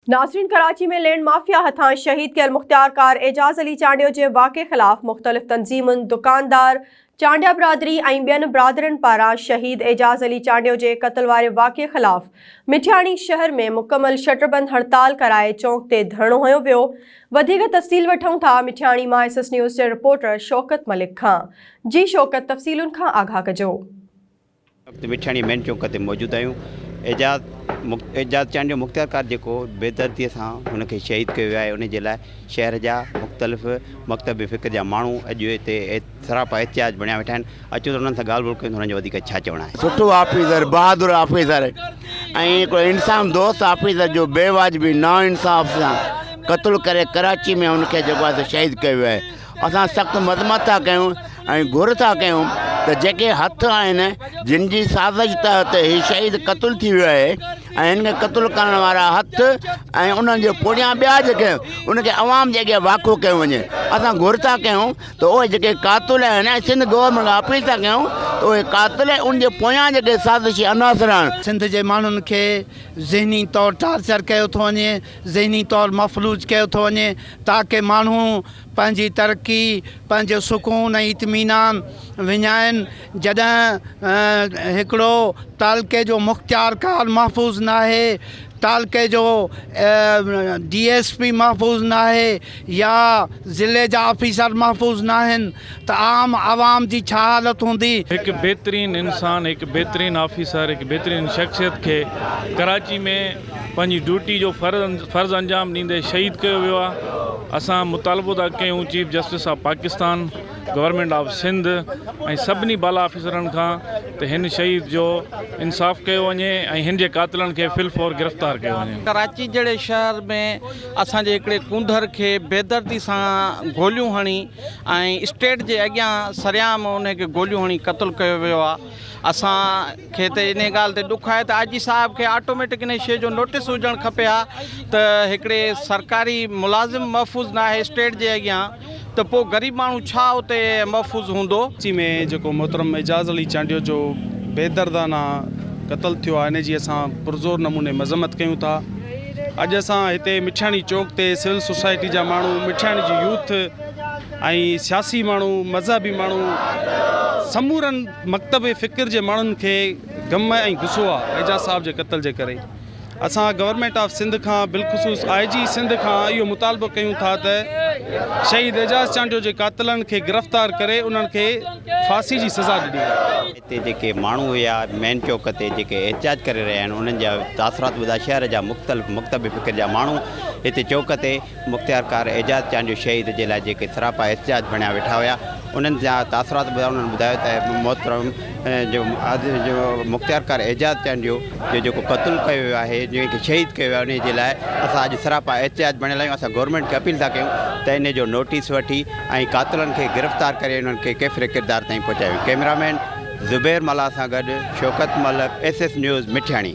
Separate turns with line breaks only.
ناظرين Karachi ۾ land mafia هٿان شهيد ڪيل مختيار ڪار اعجاز علي چانڊيو جي واقعي خلاف مختلف تنظيمن، دڪاندار، چانڊيا برادري ۽ ٻين برادرين پاران شهيد اعجاز علي چانڊيو جي قتل واري واقعي خلاف مٺياڻي شهر ۾ مڪمل شٽربند هڙتال ڪرائي چونڪ تي ڌرڻو هنيو ويو وڌيڪ تفصيل وٺون ٿا مٺياڻي مان ايس ايس نيوز جي رپورٽر شوڪت ملڪ کان جي شوڪت تفصيلن کان آگاهه ڪجو. وقت
مٺياڻي مين چوڪ تي موجود آهيون اعجاز اعجاز چانڊيو جو مختيارڪار جيڪو بيدردي سان هن کي شهيد ڪيو ويو آهي ان جي لاء شهر جا مختلف مڪتب فڪر جا ماڻهو اڄ هتي سراپا احتجاج بڻيا ويٺا آهن اچو ته انهن سان ڳالهه ٻولهه ڪيون ته انهن جو وڌيڪ ڇا چوڻ آهي. سٺو آفيسر
بهادر آفيسر ۽ هڪڙو انسان دوست آفيسر جو بي واجبي نا انصاف سان قتل ڪري ڪراچي ۾ ان کي جيڪو آهي سو شهيد ڪيو ويو آهي اسان سخت مذمت ٿا ڪيون ۽ گهر ٿا ڪيون ته جيڪي هٿ آهن جن جي سازش تحت هي شهيد قتل ٿي ويو آهي ۽ هن کي قتل ڪرڻ وارا هٿ ۽ انهن جي پوڙهيان ٻيا جيڪي ان کي عوام جي اڳيان واکو ڪيو وڃي اسان گهر ٿا ڪيون ته اهي جيڪي قاتل آهن ۽ سنڌ گورنمينٽ کان اپيل ٿا ڪيون ته اهي قاتل ۽ ان جي پويان جيڪي سازشي عناصر آهن. سنڌ جي ماڻهن کي
ذهني طور ٽارچر ڪيو ٿو وڃي ذهني طور مفلوج ڪيو ٿو وڃي تاڪه ماڻهو پنهنجي ترقي، پنهنجو سڪون ۽ اطمينان وڃائين، جڏهن هڪڙو تعلقي جو مختيارڪار محفوظ ناهي، تعلقي جو ڊي ايس پي محفوظ ناهي يا ضلعي جا آفيسر محفوظ ناهن، ته عام عوام جي ڇا حالت هوندي. هڪ بهترين
انسان، هڪ بهترين آفيسر، هڪ بهترين شخصيت کي ڪراچي ۾ پنهنجي ڊيوٽي جو فرض انجام ڏيندي شهيد ڪيو ويو آهي، اسان مطالبو ٿا ڪيون chief justice of Pakistan, government of Sindh ۽ سڀني بالا آفيسرن کان ته هن شهيد جو انصاف ڪيو وڃي ۽ هن جي قاتلن کي في الفور گرفتار ڪيو وڃي. ڪراچي جهڙي شهر
۾ اسان جي هڪڙي ڪونڌر کي بيدردي سان گوليون هڻي ۽ اسٽيٽ جي اڳيان سرعام انهي کي گوليون هڻي قتل ڪيو ويو آ اسان کي ته انهي ڳالهه تي ڏک آهي ته آء جي صاحب کي آٽوميٽڪ انهي شئي جو نوٽس هجڻ کپي ها ته هڪڙي سرڪاري ملازم محفوظ ناهي اسٽيٽ جي اڳيان ته پو غريب ماڻهو ڇا اتي محفوظ هوندو. ڪراچي ۾ جيڪو
محترم اعجاز علي چانڊيو جو بيدردانه قتل ٿيو آهي ان جي اسان پرزور نموني مذمت ڪيون ٿا. اڄ اسان هتي مٺياڻي چوڪ تي سول سوسائٽي جا ماڻهو مٺياڻي جي يوٿ ۽ سياسي ماڻهو مذهبي ماڻهو سمورن مڪتب فڪر جي ماڻهن کي غم ۽ غصو آ اعجاز صاحب جي قتل جي ڪري اسان گورنمنٽ آف سنڌ کان بالخصوص آء جي سنڌ کان اهو مطالبو ڪيون ٿا ته شهيد اعجاز چانڊيو جي قاتلن کي گرفتار ڪري انهن کي ڦاسي جي سزا ڏني تي جيڪي ماڻهو
هيا مين چوڪ تي جيڪي احتجاج ڪري رهيا آهن انهن جا تاثرات ٻڌا شهر جا مختلف مڪتب فڪر جا ماڻهو هتي چوڪ تي مختيارڪار اعجاز چانڊيو شهيد جي لاء جيڪي سراپا احتجاج بڻيا ويٺا هيا انهن جا تاثرات ٻڌا انهن ٻڌايو ته محترم جو مختيارڪار اعجاز چانڊيو جو جيڪو قتل ڪيو ويو آهي جنهن کي شهيد ڪيو ويو آهي ان جي لاء اسان اڄ سراپا احتجاج بڻيل آهيون اسان گورنمينٽ کي اپيل ٿا ڪيون ته ان جو نوٽيس وٺي ۽ قاتلن کي گرفتار ڪري انهن کي ڪيفر ڪردار تائين پهچايو، ڪئميرا مين زبير ملاح سان گڏ Shaukat Malik, S S news, Mithiani.